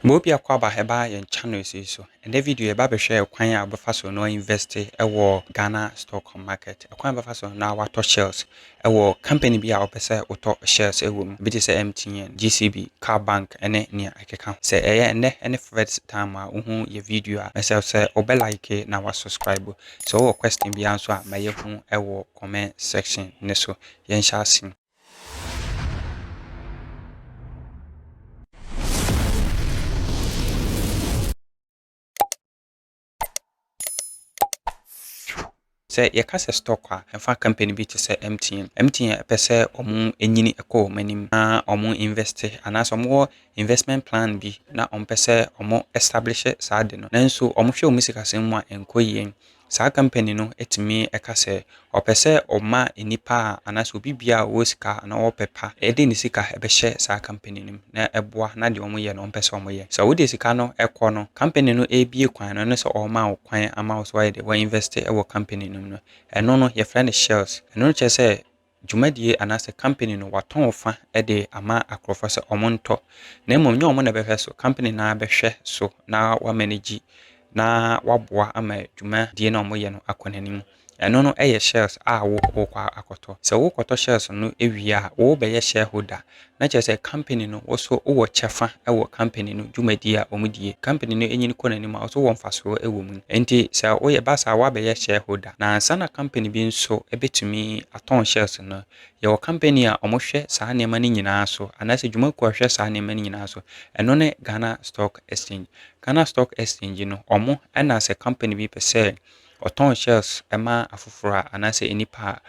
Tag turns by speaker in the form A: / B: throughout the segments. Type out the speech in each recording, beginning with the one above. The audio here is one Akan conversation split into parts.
A: Ma obi a kwaba ɛba yɛn channels yi so. Ɛnɛ video yɛba abɛhwɛ ɛkwan a wobɛfa so na woainvɛste ɛwɔ Ghana stock market. Ɛkwan a wobɛfa so na woatɔ shares ɛwɔ company bi a wopɛ sɛ wotɔ shares ɛwɔ mu. Ebi te sɛ MTN, GCB, Car bank ɛne nea ɛkeka ho. Sɛ ɛyɛ ɛnɛ ɛne first time a wohu yɛn video a, mɛsrɛ wo sɛ wobɛ like na woasubscribe. Sɛ wowɔ question biara nso a ma yɛhu ɛwɔ comment section no so. Yɛnhyɛ ase. Sɛ yɛka sɛ stock a, ɛmfa company bi te sɛ MTN. MTN pɛ sɛ wɔnyini kɔ wɔn anim na wɔn invest anaasɛ wɔwɔ investment plan bi na wɔpɛ sɛ wɔn establish saa ade no. Nanso wɔhwɛ wɔn sikasɛm mu a ɛnkɔ yie. saa company no tumi ka sɛ ɔpɛ sɛ ɔma nnipa a anaasɛ obi biara a ɔwɔ sika anaa ɔwɔ pɛ pa de ne sika bɛhyɛ saa company no mu na ɛboa na deɛ wɔyɛ no ɔmpɛ sɛ wɔyɛ. Sɛ wode sika no kɔ no, company no rebue kwan no, ɛno sɛ ɔrema wo kwan ama wo sɛ woayɛ dɛ, wo invest wɔ company no mu no, ɛno no yɛfrɛ no shares. Ɛno no kyerɛ sɛ dwumadie anaasɛ company no watɔn wo fa de ama akorɔfoɔ sɛ wɔn ntɔ na mmom nyɛ wɔn na ɛbɛhwɛ so company no ara bɛhwɛ so na wamanegyi na waboa ama dwumadie no a wɔyɛ no akɔ n'anim ɛno no yɛ shares a wo wokɔ akɔtɔ sɛ wokɔtɔ shares no wie a wobɛyɛ shareholder na kyerɛ sɛ company no wo so wowɔ kyɛfa wɔ company no dwumadie a wɔn die. Company no nyin kɔ n'anim a wo so wɔ mfasoɔ wɔ mu. Nti sɛ woyɛ ba saa woabɛyɛ shareholder. Na ansa na company bi nso bɛtumi atɔn shares no, yɛwɔ company a wɔhwɛ saa nneɛma no nyinaa so anaasɛ dwumakuo a ɛhwɛ saa nneɛma no nyinaa so. Ɛno ne Ghana Stock Exchange. Ghana Stock Exchange no wɔn na sɛ company bi pɛ sɛ ɔtɔn shares ma afoforɔ a anaasɛ nnipa a,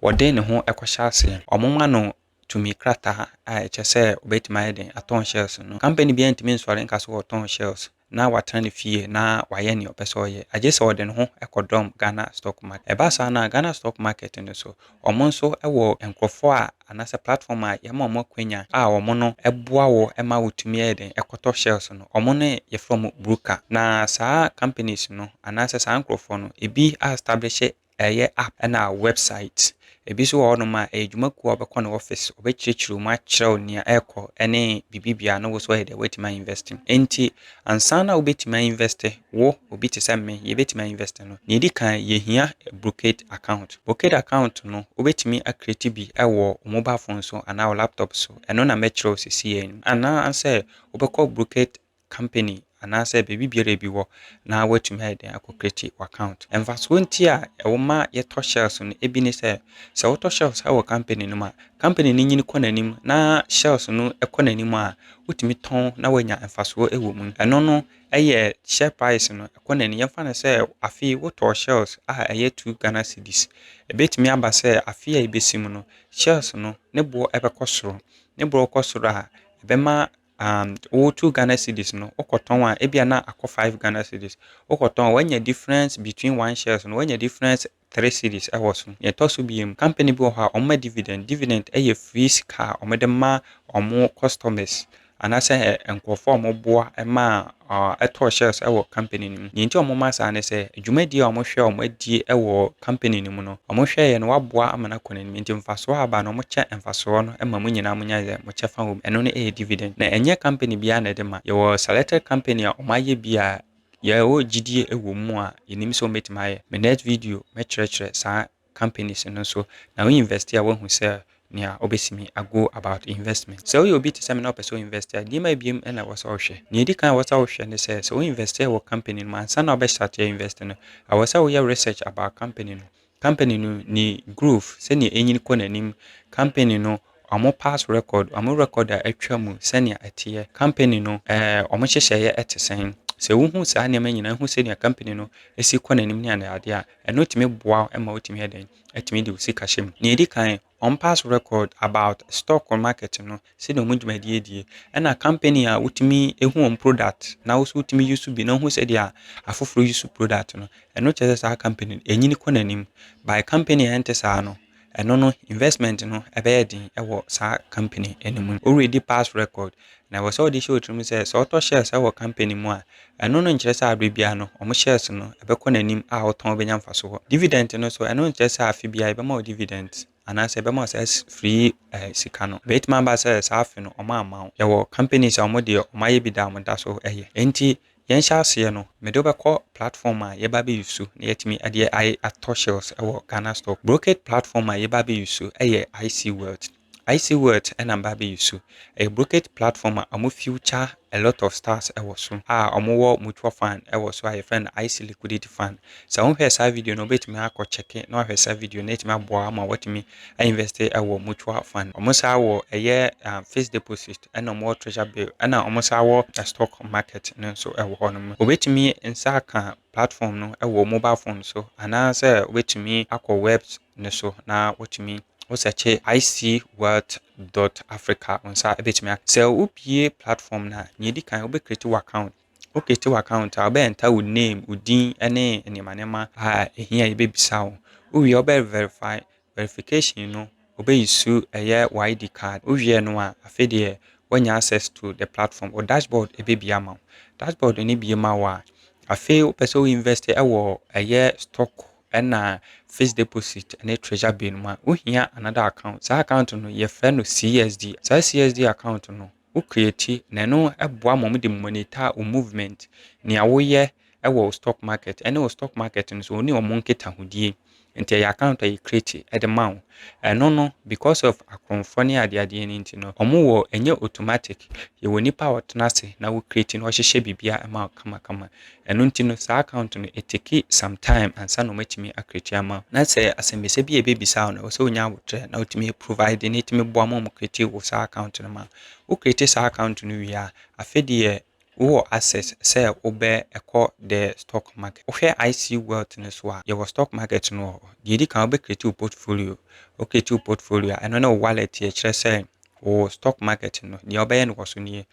A: wɔde ne ho kɔhyɛ aseɛ. Wɔma no tumi krataa a ɛkyɛ sɛ obetumi ayɛ dɛn atɔn shares no. Company biara ntumi nsɔre nka sɛ ɔretɔn shares na watena ne fie na wayɛ nea ɔpɛ sɛ ɔyɛ, agye sɛ ɔde ne ho kɔdɔm Ghana stock market. Ɛba saa no a, Ghana stock market no so, wɔn nso wɔ nkurɔfo a anaasɛ platform a yɛma wɔn akwanya a wɔn no boa wo ma wotumi yɛ dɛn kɔtɔ shares no. Wɔn no yɛfrɛ wɔn broker. Na saa companies no anaasɛ saa nkurɔfoɔ no, ebi a establishe Ɛyɛ app ɛna website. Ebi nso wɔ hɔ nom a ɛyɛ dwuma kuo a wobɛkɔ ne office, ɔbɛkyerɛkyerɛ wo mu akyerɛw nea ɛrekɔ ɛne biribi biara na wo nso ayɛ dɛn woatumi a invest. Enti ansa na wobɛtumi a invest, wo obi te sɛ me yɛbɛtumi a invest no, nea ɛdi kan yɛhia Brocade account. Brocade account no wobɛtumi a create bi wɔ wo mobile phone so anaa wo laptop so, ɛno na mɛkyerɛ wo sesei ara yi. Anaa sɛ wobɛkɔ Brocade company anaasɛ baabi biara ebi wɔ na woatumi ayɛ dɛn akɔ create w'account. Mfasoɔ nti a ɛwɔ ma yɛtɔ shells no ebi ne sɛ, sɛ wotɔ shells wɔ company no mu a, company no nyini kɔ n'anim na shells no kɔ n'anim a, wotumi tɔn na woanya mfasoɔ wɔ mu. Ɛno no yɛ share price no kɔ n'anim. Yɛmfa no sɛ afe yi wotɔɔ shells a ɛyɛ two Ghana cedis. Ɛbɛtumi aba sɛ afe a ɛbɛsi mu no, shells no ne boɔ bɛkɔ soro. Ne boɔ kɔ soro a, ɛbɛma and wo two Ghana cedis no wokɔ tɔn a ebia na akɔ five Ghana cedis. Wokɔ tɔn a wanya difference between one shares no wanya difference three cedis ɛwɔ so. Nea ɛtɔ so biom, company bi wɔ hɔ a wɔn ma dividend, dividend ɛyɛ free sika a wɔn de ma wɔn customers anaasɛ nkorɔfoɔ a wɔn boa ɛmaa tɔɔ shares wɔ company no mu. Nea enti a wɔma saa ne sɛ, dwumadi a wɔhwɛ a wɔadie wɔ company no mu no, wɔhwɛeɛ no wɔaboa ama no akɔ n'anim, enti mfasoɔ a aba no wɔkyɛ mfasoɔ no ma mo nyinaa monya sɛ mo kyɛfa wɔ mu. Ɛno no yɛ dividend. Na ɛnyɛ company biara na ɛde ma. Yɛwɔ selected company a wɔayɛ bi a yɛwɔ gyidie wɔ mu a yɛnim sɛ wɔbɛtumi ayɛ. Me next video mɛkyerɛkyerɛ saa companies no so na wo invest a woahu sɛ nea obetumi ago about investment. Sɛ woyɛ obi te sɛ me na wopɛ sɛ wo invest a, nneɛma abien na ɛwɔ sɛ wohwɛ. Nea edi kan a ɛwɔ sɛ wohwɛ ne sɛ, sɛ wo invest wɔ company no mu ansa na wobɛ start invest no, ɛwɔ sɛ woyɛ research about company no. Company no ne growth, sɛnea enyin kɔ n'anim, company no Wɔn past record, wɔn record a atwa mu sɛnea ɛteɛ, company no ɛɛ wɔn nhyehyɛeɛ ɛte sɛn. Sɛ wohu saa nneɛma nyinaa, wohu sɛnea company no ɛsi kɔ n'anim ne ade adeɛ a, ɛno tumi boa wo ɛma wotumi yɛ dɛn, ɛtumi de wo sika hyɛ mu. Nea ɛdi kan, wɔn past record about stock market no, sɛnea wɔn dwumadie die, ɛna company a wotumi ɛhu wɔn product na wo nso wotumi use bi na wohu sɛdeɛ afoforɔ use product no, ɛno kyerɛ sɛ saa company no ɛnyini kɔ n'anim. By company a ɛnte saa no, Ɛno no investment no ɛbɛyɛ den wɔ saa company no mu. Wo ready past record na ɛwɔ sɛ wɔde hyɛ wo tirim sɛ sɛ wotɔ shares wɔ company mu a ɛno no nkyerɛ sɛ aberɛ biara no wɔn shares no ɛbɛkɔ n'anim a wotɔn wobɛnya mfasoɔ. Dividend no nso ɛno nkyerɛ sɛ afe biara yɛbɛma wo dividend anaa sɛ yɛbɛma wo saa free sika no. Ɛbɛtumi aba sɛ saa afe no wɔn amma wo. Yɛwɔ companies a wɔn deɛ wɔn ayɛ bi da a wɔn da so yɛ. Ɛnti Yɛn hyɛ aseɛ no me de wo bɛkɔ platform a yɛba abɛ use so na yɛatumi adeɛ ayɛ atɔ shares wɔ Ghana stock brokerage platform a yɛba abɛ use so yɛ IC wealth IC wealth na meba abɛ use so ɛyɛ brokerage platform a ɔmo future a lot of stars wɔ so a ɔmo wɔ mutual fund wɔ so a yɛfrɛ no IC liquidity fund sɛ wo nhwɛɛ saa video no wobɛtumi akɔ check na wahwɛ saa video no na atumi aboa wo ama watumi a investe wɔ mutual fund. Wɔn saa wɔ ɛyɛ fixed deposit ɛna wɔn wɔ treasure bill ɛna wɔn saa wɔ stock market no nso ɛwɔ hɔ nom. Wɔbɛtumi nsa aka platform no ɛwɔ mobile phone so anaasɛ wɔbɛtumi akɔ webs no so na wɔtumi wo sɛkye icwealth dot africa wɔn saa ɛbɛtumi aka. Sɛ wobie platform no a nea ɛdi kan wobɛ create wo account. Wo create wo account a, wobɛ enter wo name, wo din ne nneɛma nneɛma a ɛhia yɛbɛbisa wo. Wo wie a wobɛ verify, verification no wobɛ use ɛyɛ wo ID card. Wo wie no a, afei deɛ woanya access to the platform. Wo dashboard ɛbɛbie ama wo. Dashboard no bie ma wo a, afei wopɛ sɛ wo invest wɔ ɛyɛ stock ɛna fixed deposit ne treasure bill mu a, wohia another account. Saa account no yɛfrɛ no CSD. Saa CSD account no, wo create na ɛno boa ma wɔde monitor wo movement, nea woyɛ wɔ wo stock market ne wo stock market no so wo ne wɔn nkitahodie. Nti ɛyɛ account a yɛ create de ma wo. Ɛno no because of akorɔmfoɔ ne adeadeɛ no nti no, wɔn wɔ ɛnyɛ automatic, yɛwɔ nipa a ɔtena ase na wo create na ɔhyehyɛ biribiara ma wo kamakama. Ɛno nti no saa account no etake some time ansa na wɔatumi a create ama wo. Na sɛ asɛmbisa bi a ɛbɛbisa wo no ɛwɔ sɛ wonya aboterɛ na wotumi provide na ɛtumi boa ma wɔn create wo saa account no ma wo. Wo create saa account no wie a, afei deɛ wowɔ access sɛ wobɛ kɔ the stock market. Wohwɛ IC wealth no so a yɛwɔ stock market no wɔ hɔ. Deɛ ɛdi kan wobɛ create wo portfolio, wo create wo portfolio a ɛno ne wo wallet yɛ kyerɛ sɛ wo stock market no deɛ wobɛyɛ no wɔ so nie.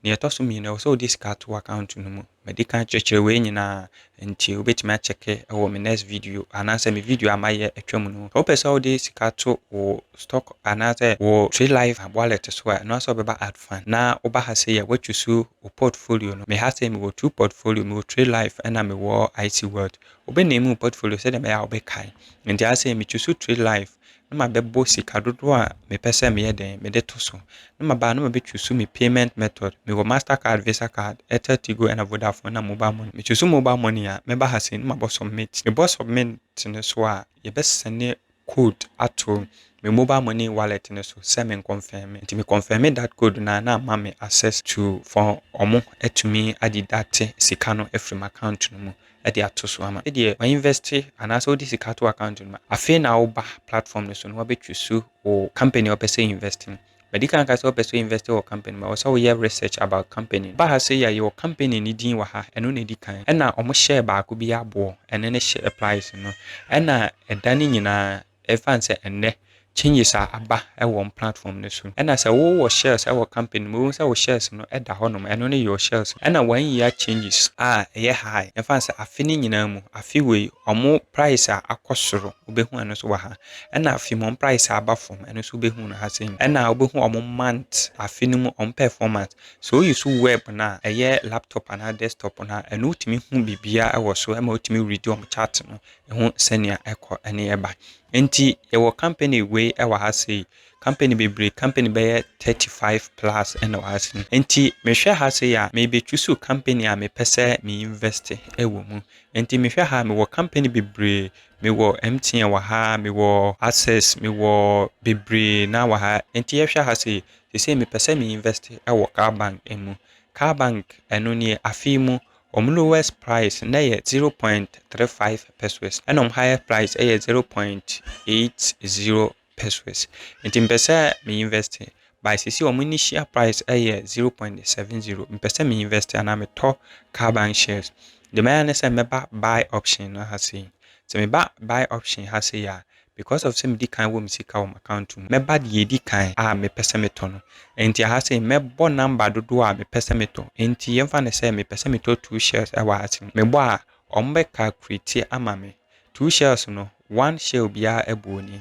A: Deɛ ɛtɔ so mmienu ɛwɔ sɛ wode sika to account no mu. Madi kan akyerɛkyerɛ wei nyinaa nti wobɛtumi akyɛke wɔ me next video anaasɛ me video a mayɛ atwa mu no ho. Sɛ wopɛ sɛ wode sika to wo stock anaasɛ wo Trilife wallet so a, ɛno ara sɛ wobɛba Add Fund na woba ha sei a woatwi so wo portfolio no. Me ha sei mewɔ two portfolio, mewɔ Trilife ɛna mewɔ IC Wealth. Wobɛ name wo portfolio sɛdeɛ ɛbɛyɛ a wobɛkae. Nti ha sei metwi so Trilife na mabɛbɔ sika dodoɔ a mepɛ sɛ meyɛ dɛn mede to so na maba a na mabɛ choose me payment method mewɔ master card visa card airtel tigo ɛna vodafone na mobile money me choose mobile money a mɛba ha sei na mabɔ submit mebɔ submit no so a yɛbɛ sɛne code ato me mobile money wallet no so sɛ me confirm nti me confirm that code na na ama me access to for ɔmo atumi adi date sika no afiri m'account no mu de ato so ama. Sɛdeɛ wa invest anaasɛ wode sika ato account no mu a, afei na woba platform no so na wabɛ choose wo company a wopɛ sɛ invest no. Madi kan aka sɛ wopɛ sɛ invest wɔ company mu a, ɛwɔ sɛ woyɛ research about company no. Woba ha sei a, yɛwɔ company no din wɔ ha, ɛno na ɛdi kan. Ɛna wɔhyɛɛ baako bi aboɔ, ɛno ne hyɛ applies no. Ɛna ɛda no nyinaa Ɛsiane sɛ ɛnnɛ changes a aba wɔ wɔn platform no so. Ɛna sɛ wo wɔ shares wɔ company no mu, wobɛhu sɛ wo shares no da hɔ nom, ɛno ne your shares no. Ɛna wɔn year changes a ɛyɛ high, yɛmfa no sɛ afe no nyinaa mu, afe wei wɔn price a akɔ soro, wobɛhu ɛno nso wɔ ha. Ɛna afe mu wɔn price a aba fam, ɛno nso wobɛhu no ha sei mu. Ɛna wobɛhu wɔn month, afe no mu wɔn performance. Sɛ wo use web no a, ɛyɛ laptop anaa desktop no a, ɛno wotumi hu biribiara wɔ so, ɛma wotumi read wɔn chart no, ɛho sɛnea ɛkɔ ne ɛba. Nti yɛwɔ company wei wɔ ha sei, company bebree, company bɛyɛ thirty five plus na wɔ ha sei. Nti mehwɛ ha sei a, mebe choose company a mepɛ sɛ me invest wɔ mu. Nti mehwɛ ha a, mewɔ company bebree, mewɔ MTN wɔ ha, mewɔ Access, mewɔ bebree no ara wɔ ha. Nti yɛhwɛ ha sei, sesei mepɛ sɛ me invest wɔ Car Bank mu. Car Bank ɛno nie, afe yi mu Wɔn lowest price no yɛ zero point three five pesewas ɛna wɔn highest price yɛ zero point eight zero pesewas. Nti mepɛ sɛ me invest by sisi wɔn initial price yɛ zero point seven zero. Mepɛ sɛ me invest anaa metɔ carbon shares. Deɛ mɛyɛ ne sɛ mɛba buy option no ha sei. Sɛ meba buy option ha sei a, Because of sɛ medi kan wɔ me sika wɔ m'account mu, mɛba deɛ ɛdi kan a mepɛ sɛ metɔ no. Enti aha sei mɛbɔ number dodoɔ a mepɛ sɛ metɔ. Enti yɛmfa no sɛ mepɛ sɛ metɔ two shells wɔ ha sei. Mebɔ a, wɔbɛ calculate ama me. Two shells no, one shell biara buo nie.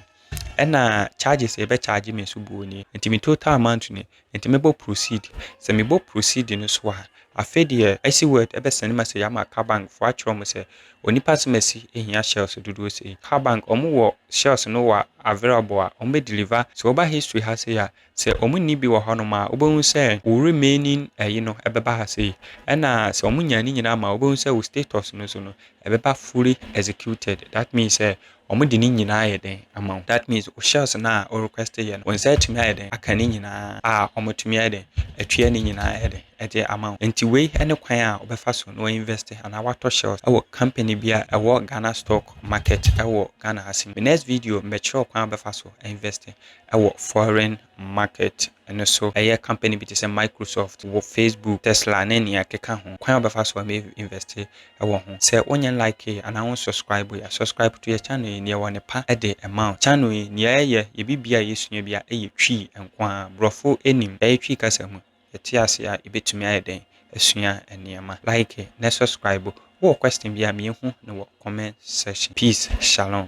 A: Ɛna charges a yɛbɛ charge me nso buo nie. Enti me total amount nie. nti mɛbɔ proceed. Sɛ mebɔ proceed no so a, afei deɛ asi word ɛbɛsɛne message ama car bank foɔ akyerɛ wɔn sɛ onipa asɛm asi ehia shells dodoɔ sei. Car bank wɔn wɔ shells no wɔ available a wɔn bɛ deliver. Sɛ woba history ha sei a, sɛ wɔn nni bi wɔ hɔnom a wobɛhu sɛ wo remaining ɛyi no ɛbɛba ha sei. Ɛna sɛ wɔn nya ne nyinaa ma a wobɛhu sɛ wo status no so no ɛbɛba fully executed. That means sɛ Ɔmo de ne nyinaa ayɛ dɛn ama wo? That means wo shells no a wo request yɛ no, wo nsa atumi ayɛ dɛn aka ne nyinaa a ɔmo atumi ayɛ dɛn atua ne nyinaa ayɛ dɛn de ama wo. Nti wei ne kwan a wobɛfa so na wa invest anaa watɔ shells ɛwɔ company bi a ɛwɔ Ghana stock market ɛwɔ Ghana ha se no. Me next video mebɛkyerɛ wo kwan a wobɛfa so a invest ɛwɔ foreign market no so ɛyɛ company bi te sɛ Microsoft, wɔ Facebook, Tesla ne nea ɛkeka ho. Kwan a wobɛfa so a invest wɔ ho. Sɛ wonyɛ like anaa wo subscribe a, subscribe to yɛ channel yi, nea ɛwɔ ne pa de ma wo. Channel yi nea ɛyɛ, yɛ biribiara a yɛsua biara ɛyɛ Twi nko ara, brɔfo nim, ɛyɛ Twi kasa mu, yɛte ase a yɛbɛtumi ayɛ dɛn asua nneɛma. Like na subscribe, wowɔ question biara ma yɛhu no wɔ comment section. Peace, Shalom.